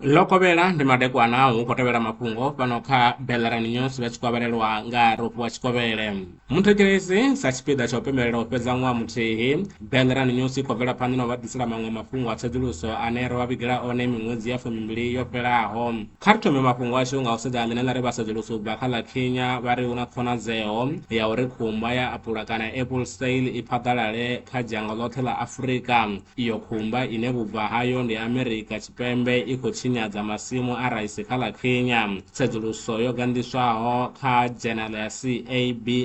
ḽo kovhela ndi madekwana hu khou tevhela mafhungo fhano kha bellarani news vha tshi khou avhelelwa nga rofu wa tshikovhele muthetshelesi sa tshipiḓa tsha u pembelela u fhedza ṅwaha muthihi bellarani news i khou bvela phanḓa na u vha ḓisela maṅwe mafhungo a tsedzuluso ane ro vha vhigela one miṅwedzi ya fumimbili yo fhelaho Kha ri thome mafhungo ashu nga u sedza nḓila ine vha sedzulusa u bva kha ḽa Kenya vha ri hu na khonadzeo ya uri khumba ya apula kana apple sail i phaḓalale kha dzhango ḽoṱhe ḽa Afrika. Iyo khumba ine vhubvo hayo ndi Amerika Tshipembe i khou tshinyadza masimu a raisi kha ḽa Kenya. Tsedzuluso yo ganḓiswaho kha dzhenala ya CABI,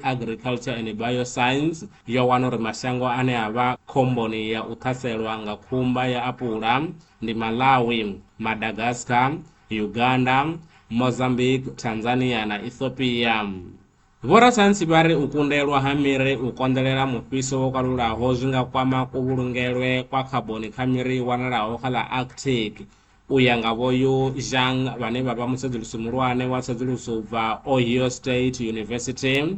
Agriculture and Bioscience, yo wana uri mashango ane a vha khomboni ya u ṱhaselwa nga khumba ya apula ndi Malawi, Madagascar, Uganda, Mozambique, Tanzania na Ethiopia. Vhorasaintsi vha ri u kundelwa ha miri u konḓelela mufhiso wo kalulaho zwi nga kwama kuvhulungelwe kwa khaboni kha miri i wanalaho kha ḽa Arctic. U ya nga Vho Yu Zhang vhane vha vha mutsedzulusi muhulwane wa tsedzuluso u bva Ohio State University,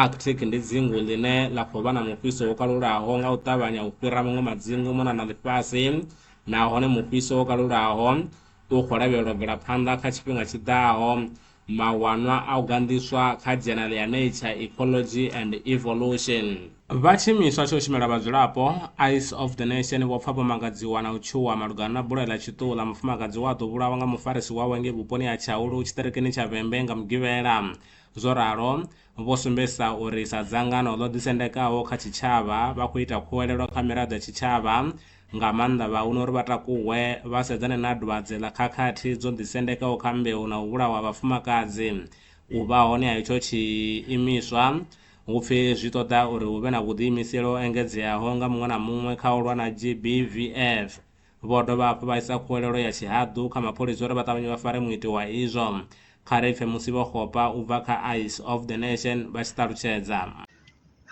Arctic ndi dzingu ḽine ḽa khou vha na mufhiso wo kalulaho nga u ṱavhanya u fhira maṅwe madzingu mona na ḽifhasi, nahone mufhiso wo kalulaho u khou lavhelelwa u bvela phanḓa kha tshifhinga tshi ḓaho. Mawanwa a u ganḓiswa kha Journal ya Nature, Ecology and Evolution. Vha tshiimiswa tsha u shumela vhadzulapo, Ice of the Nation, vho pfa vho mangadziwa na u tshuwa malugana na bulayo ḽa tshiṱuhula mufumakadzi we a ḓo vhulawa nga mufarisi wawe ngei vhuponi ha Tshaulu, tshiṱirikini tsha Vhembe nga Mugivhela. Zwo ralo, vho sumbedzisa uri sa dzangano ḽo ḓisendekaho kha tshitshavha, vha khou ita khuwelelo kha miraḓo ya tshitshavha, nga maanḓa vhahuna uri vha takuwe vha sedzane na dwadze ḽa khakhathi dzo ḓisendekaho kha mbeu na u vhulawa ha vhafumakadzi. U vha hone ha itsho tshiimiswa hu pfi zwi ṱoḓa uri hu vhe na vhuḓiimiseli ho engedzeaho nga muṅwe na muṅwe kha u lwa na GBVF. Vho dovha hafhu vha isa khuwelelo ya tshihaḓu kha mapholisa uri vha ṱavhanye vha fare muiti wa izwo. Kha ri pfe musi Vho Kgopa u bva kha Eyes of the Nation vha tshi ṱalutshedza.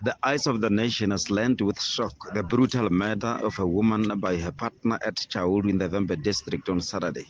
The Eyes of the Nation has learned with shock the brutal murder of a woman by her partner at Chaulu in the Vhembe district on Saturday.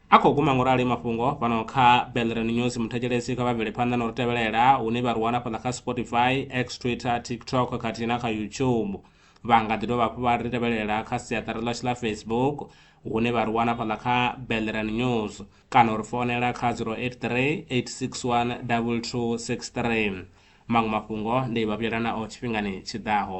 A khou guma ngo rali mafhungo fhano kha Belrani News. Muthetshelesi kha vha bvele phanḓa na u ri tevhelela hune vha ri wana fhaḽa kha Spotify, X, Twitter, TikTok khathihi na kha YouTube. Vha nga ḓi dovha hafhu vha ri tevhelela kha siaṱari ḽashu ḽa Facebook hune vha ri wana fhaḽa kha Belrani News kana u ri founela kha 083 861 2263. Maṅwe mafhungo ndi vha vhuyela nao tshifhingani tshi ḓaho.